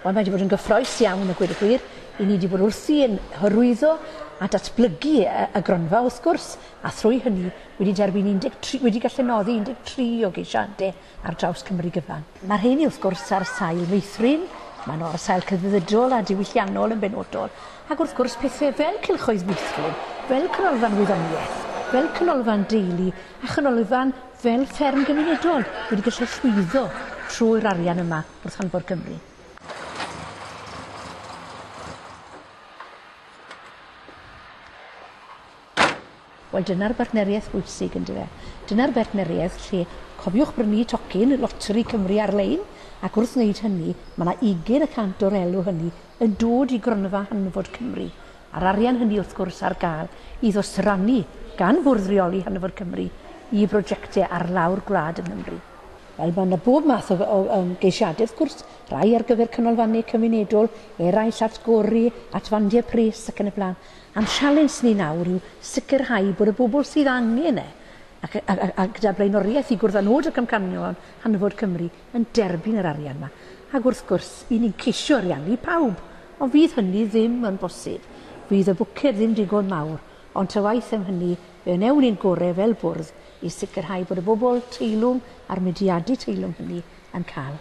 Ond mae wedi bod yn gyffroes iawn y gwir y gwir. I ni wedi bod wrthi yn hyrwyddo a datblygu y gronfa wrth gwrs, a thrwy hynny wedi derbyn 13, wedi gallu noddi 13 o geisiadau ar draws Cymru gyfan. Mae'r rheiny, wrth gwrs, ar sail meithrin, maen nhw ar sail cyddfydydol a diwylliannol yn benodol, ac wrth gwrs pethau fel cylchoedd meithrin, fel canolfan wyddoniaeth, fel canolfan deulu a chanolfan fel fferm gymunedol wedi gallu llwyddo trwy'r arian yma wrth anfor Cymru. Wel dyna'r bartneriaeth bwysig yndyfe? Dyna'r bartneriaeth lle, cofiwch brynu tocyn Loteri Cymru ar-lein ac wrth wneud hynny mae yna ugain y cant o'r elw hynny yn dod i Gronfa Hanfod Cymru a'r arian hynny wrth gwrs ar gael i ddosrannu gan Fwrdd Reoli Hanfod Cymru i brojectau ar lawr gwlad yng Nghymru. Wel mae yna bob math o o yym geisiadau wrth gwrs, rhai ar gyfer canolfannau cymunedol, eraill at gori, at fandiau pris ac yn y blaen. A'n sialens ni nawr yw sicrhau bod y bobl sydd angen e, ac, a, a, a gyda blaenoriaeth i gwrdd â nod y camcanion hanfod Cymru, yn derbyn yr arian 'ma. Ac wrth gwrs, 'yn ni'n ceisio ariannu pawb, ond fydd hynny ddim yn bosib. Fydd y bwced ddim digon mawr, ond ta waeth am hynny, fe wnewn ni'n gorau fel bwrdd i sicrhau bod y bobl teilwng a'r mudiadau teilwng hynny yn cael.